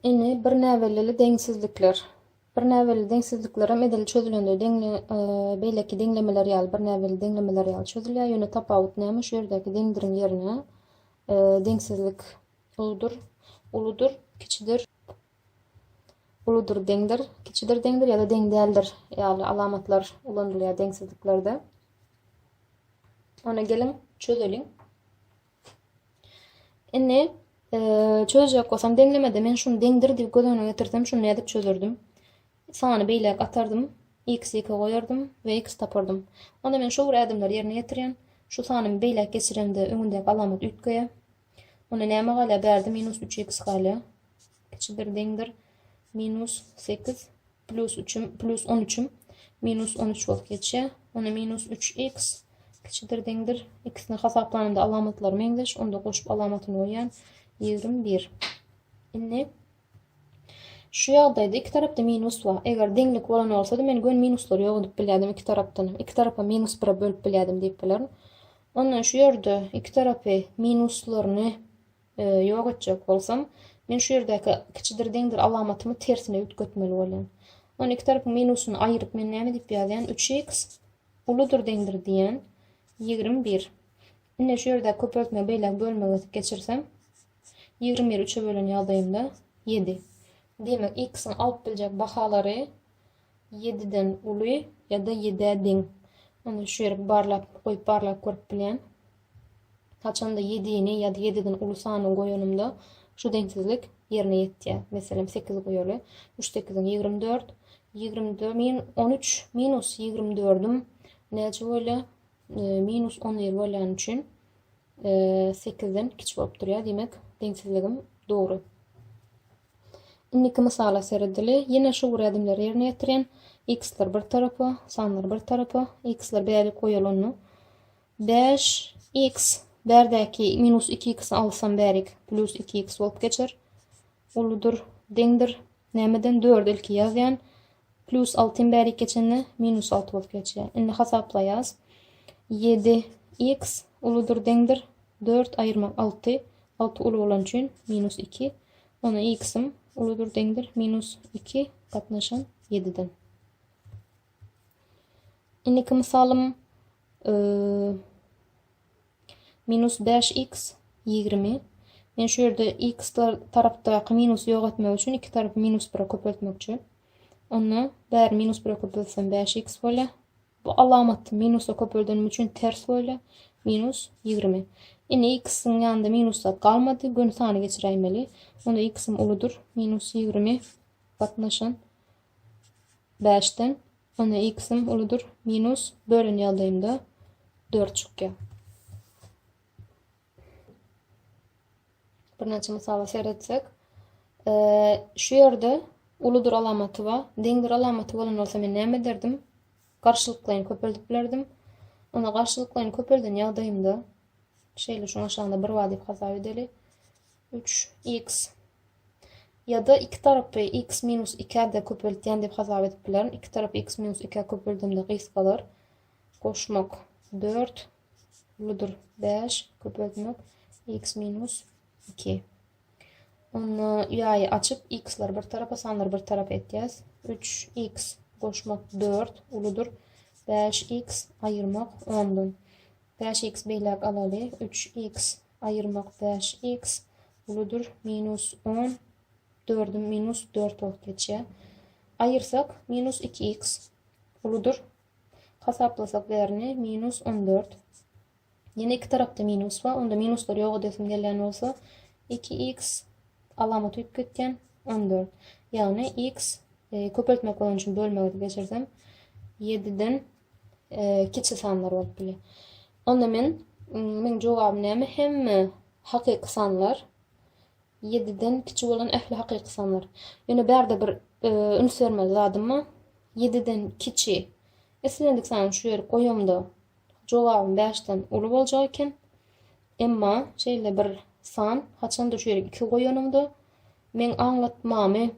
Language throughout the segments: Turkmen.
Ine, bir näbellili deňsizlikler. Bir näbellili deňsizliklerem edil çözülende deň, e, beýleki deňlemeler ýaly, bir näbellili deňlemeler ýaly çözülýär. Ýöne tapawut näme? Şu ýerdäki deňdiriň ýerine e, deňsizlik uludyr, uludyr, kiçidir, uludyr, deňdir, kiçidir, deňdir ýa-da deň däldir ýaly alamatlar ulanylýar deňsizliklerde. Ona geliň, çözeliň. Indi çözjek bolsam deňlemede men şuny deňdir diýip göz öňüne getirsem şuny nädip çözerdim? Sany beýläk atardym, x iki goýardym we x tapardym. Onda men şu bir ädimleri ýerine getirýän. Şu sanymy beýläk geçiremde öňündäki alamat üýtgeýär. Onda näme galýar? Bärde minus üç x galýar. Kiçidir deňdir minus sekiz Plus üçüm, plus on üçüm minus on üç bolup geçýär. Onda minus üç x kiçidir deňdir. Ikisini hasaplananda alamatlary meňzeş. Onda goşup alamatyny goýýan. Ýigrimi bir. Indi şu ýagdaýda iki tarapda minus bar. Eger deňlik bolan bolsady, men gön minuslary ýok edip bilýärdim iki tarapdan. Iki tarapa minus bire bölüp bilýärdim diýip bilerin. Ondan şu ýerde iki tarapy minuslaryny Ýok etjek bolsam, men şu ýerdäki kiçidir-deňdir alamatymy tersine üýtgetmeli bolýan. On iki tarapyň minusyny aýyryp men näme diýip ýazýan? Üç x uludyr-deňdir diýýän. Ýigrimi bir. Ine, şu ýerdäki köpeltmä beýläk bölmegi geçirsem, ýigrimi biri üçe bölen ýagdaýymda ýedi. Diýmek, x-iň alyp biljek bahalary ýediden uly ýa-da ýedä deň. Onda şu ýeri barlap, goýup barlap görüp bilýän. Haçanda ýedini ýa-da ýedi gün uly sany goýanymda şu deňsizlik ýerine ýetýär. Meselem, sekiz goýaly. Üç sekiziň ýigrimi dört. Ýigrimi dört min on üç minus ýigrimi dördüm näçe bolýar? Minus on bir bolýany üçin sekizden kiçi bolup durýar. Diýmek, deňsizligim dogry. Indiki mysala seredeli. Ýene şu gurýadymlary ýerine ýetiren. X-ler bir tarapa, sanlar bir tarapa. X-ler bäri goýalanda Bäş iks bärdäki minus iki iksy alsam bärik plus iki iks bolup geçer. Uludyr, deňdir. Nämeden dördi ilki ýazýan. Plus altym bärik geçende minus alty bolup geçýär. Indi hasaplaýas. Ýedi iks uludyr, deňdir. Dört aýyrmak alty. Alty uly bolan üçin minus iki. Ony iksim uludyr, deňdir. Minus iki gatnaşan ýediden. Indiki misalym minus bäş x ýigrimi men şu ýerde x tarapdaky minusy ýok etmek üçin iki tarapy minus bire köpeltmekçi onda bäri minus bire köpeltsem bäş x bolýar bu alamat minusa köpeldenimiz üçin ters bolýar minus ýigrimi indi x-iň ýanynda minus zat galmady göni sany geçiräýmeli onda x-im uludyr minus ýigrimi gatnaşan bäşden, onda x-im uludyr, minus, bölen ýagdaýymda dört çykýar. Birnäçe mysala seretsek, şu ýerde uludyr alamaty bar. Deňdir alamaty bolan bolsa men näme ederdim? Garşylyklaýyn köpeldip bilerdim. Onda garşylyklaýyn köpelden ýagdaýymda şeýle şuň aşagynda bir bar diýip hasap edeli. Üç iks ýa-da iki tarapy iks minus ikä de köpeltýän diýip hasap edip bilerin. Iki tarapy iks minus ikä köpeldemde gysgalar. Goşmak dört, uludyr bäş, köpeltmek iks minus iki. Onda ýaýy açyp, iksleri bir tarapa, sanlary bir tarapa etýäs. Üç iks goşmak dört, uludyr bäş iks, aýyrmak ondan. Bäş iks beýläk alaly. Üç iks Aýyrmak bäş iks uludyr minus on dördi minus dört bolup geçýär. Aýyrsak minus iki iks uludyr. Hasaplasak bärini minus on dört. Ýene iki tarapda minus bar. Onda minuslar ýok edesim gelýän bolsa iki iks alamaty üýtgedip gitýän on dört. Ýagny iks e, köpeltmek bolan üçin bölmegi geçirsem ýediden kiçi sanlar bolup bilýär. Onda men meniň jogabym näme? Hemme hakyky sanlar 7 den kiçi bolan ähli hakyky sanlar. Ýöne bärde bir e, üns bermeli zadym bar. 7 den kiçi. Islendik sany şu ýeri goýamda jogabym 5 den uly boljak eken. Emma şeýle bir san haçanda şu ýere 2 goýanymda men aňlatmamy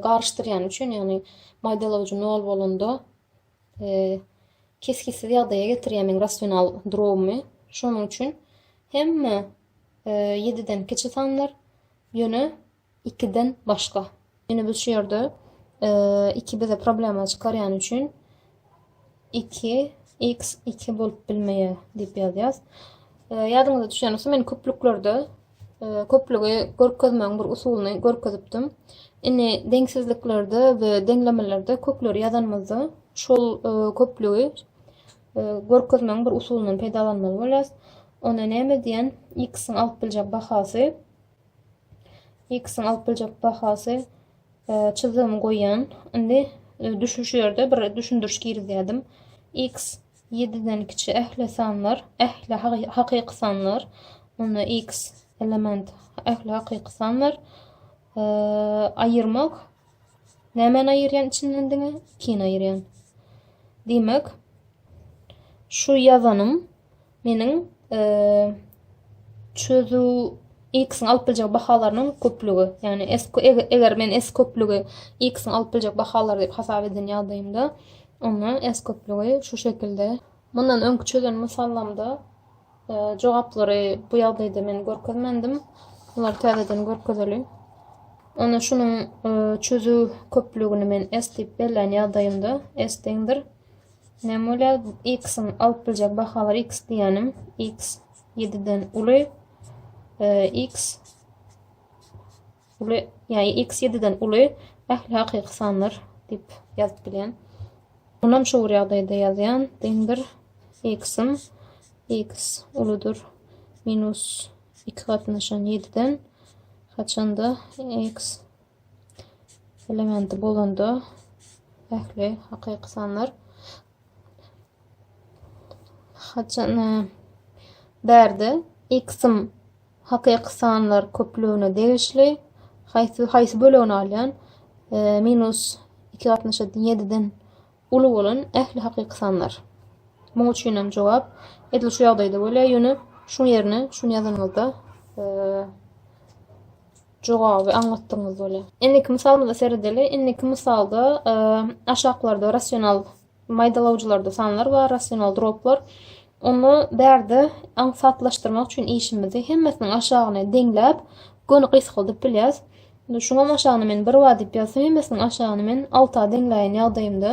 garyşdyrýan üçin, ýagny maýdalawjy nol bolanda kesgitsiz ýagdaýa getirýär meň rasional drogumy. Şonuň üçin hemme 7-den kiçi sanlar, ýöne 2-den başga. Ýöne biz şu ýerde 2 bize problema çykarýan üçin 2 x 2 bolup bilmeýär diýip ýazýas. Ýadyňyza düşýän bolsa men köplüklerde e, köplügi görkezmegiň bir usulyny görkezipdim. Indi deňsizliklerde we deňlemelerde kökleri ýazanymyzda şol e, köplügi e, görkezmegiň bir usulyndan peýdalanmaly bolýas. Ona näme diýen x-iň alyp biljek bahasy X-iň alyp biljek bahasy çyzdygymy goýýan. Indi düşün şu ýerde bir düşündiriş girizýärdim. X 7-den kiçi ähli sanlar, ähli hakyky sanlar. Onda X element ähli hakyky sanlar. E, aýyrmak nämäni aýyrýan içinden diňe 2-ni aýyrýan. Diýmek şu ýazanym Meniň çözüw x-iň alyp biljek bahalarynyň köplügi. Ýagny s eger men s köplügi x-iň alyp biljek bahalary diýip hasap eden ýagdaýymda, onda s köplügi şu şekilde. Mundan öňki çözen mysallarymda e, jogaplary bu ýagdaýda men görkezmendim. Bular täzeden görkezeli. Onda şunuň e, çözüw köplügini men s diýip belleýän ýagdaýymda s deňdir Näme bolýar? X-iň alyp biljek bahalary X diýenim X 7-den uly X uly ýa X 7-den uly ähli hakyky sanlar diýip ýazyp bilýän. Bunam şu bir ýagdaýda ýazýan deňdir X-im X uludyr minus 2 gatnaşan 7-den haçanda X elementi bolanda ähli hakyky sanlar haçan e, bärde x'im hakyky sanlar köplügine degişli haýsy haýsy bölegini alýan e, minus 2 gatnaşa 7-den Uly bolan ähli hakyky sanlar. Muň üçinem jogap edil şu ýagdaýda bolýar, ýöne şuň ýerine şuny ýazanyňyzda jogaby aňlatdygyňyz bolýar. Indiki mysalymyza seredeli. Indiki mysalda aşaklarda rasional maýdalawjylarda sanlar bar, rasional droplar. Onda bärde aňsatlaşdyrmak üçin işimizi hemmesiniň aşagyny deňläp, göni gysgaldyp bilýäs. Indi şuňam aşagyna men bir wa diýip ýazsam hemmesiniň aşagyny men alta deňläýen ýagdaýymda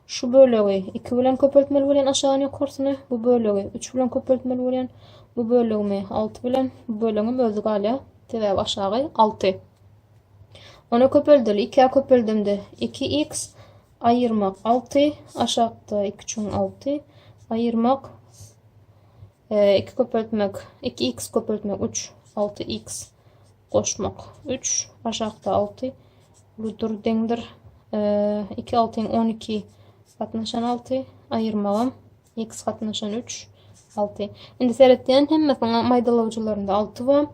şu bölegi iki bilen köpeltmeli bolýan aşagyny ýokarsyny bu bölegi üç bilen köpeltmeli bolýan bu bölegimi alty bilen bu bölegim özi galýar sebäbi aşagy alty ona köpeldeli ikä köpeldimde iki x aýyrmak alty aşakda iki üçin alty aýyrmak e, iki köpeltmek iki x köpeltmek üç alty x goşmak üç, aşakda alty, uludyr, deňdir. Iki altyň on iki gatnaşan alty, aýyrmagam x gatnaşan üç, alty. Indi seretýän hemmesiniň maýdalawjylarynda alty bar.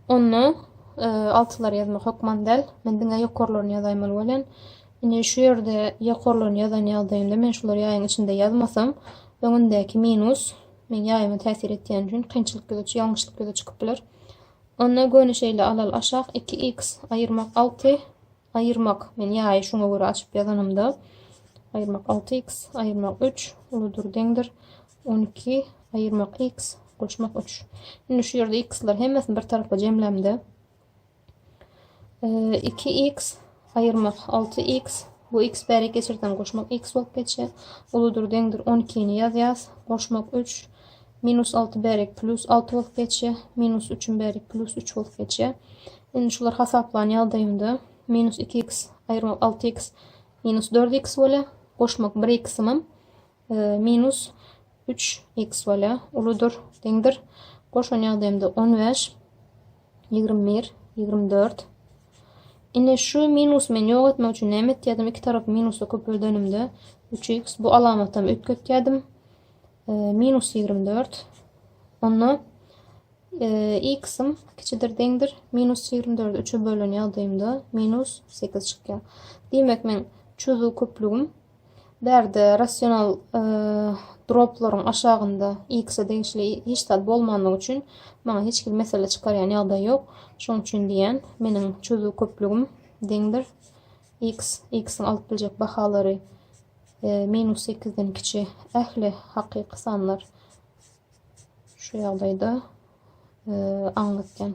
Onda e, altylar ýazmak hökman däl. Men diňe ýokarlaryny ýazaýmaly bolýan. Indi şu ýerde ýokarlaryny ýazan ýagdaýymda men şulary ýaýyň içinde ýazmasam, öňündäki minus men ýaýyma täsir etýän üçin kynçylyk ýüze ýalňyşlyk ýüze çykyp biler. Onda göni şeýle alal aşak iki x aýyrmak alty aýyrmak men ýaýy şuňa görä açyp ýazanymda aýyrmak alty x aýyrmak üç uludyr deňdir on iki aýyrmak x goşmak üç indi şu ýerde x-ler hemmesini bir tarapa jemlämde iki x Aýyrmak, alty iks, bu iks bärik geçirseň goşmak iks bolup geçýär, uludyr, deňdir, on ikini ýazýas, goşmak üç, minus alty bärik plýus alty bolup geçýär, minus üçim bärik plýus üç bolup geçýär. Indi şular hasaplan ýagdaýynda minus iki iks aýyrmak alty iks minus dört iks bolýar, goşmak bir iksimem Minus üç x bolýa. Uludyr, deňdir. Goşan ýagdaýymda on bäş, ýigrimi bir, ýigrimi dört. Indi şu minus men ýok etmek üçin näme etýärdim? Iki tarapy minusda köpeldenimde üç x bu alamatam üýtgetýärdim. Minus ýigrimi dört. Onda x-im kiçidir deňdir minus 24 3-e bölen ýagdaýymda minus 8 çykýar. Diýmek men çözüw köplügim Bärde rasional droplaryň aşagynda x-e degişli hiç zat bolmandygy üçin maňa hiç hili mesele çykarýan ýagdaý ýok. Şonuň üçin diýýän, meniň çözüw köplügim deňdir x, x-iň alyp biljek bahalary e, minus sekizden kiçi ähli hakyky sanlar şu ýagdaýda e, aňlatýan.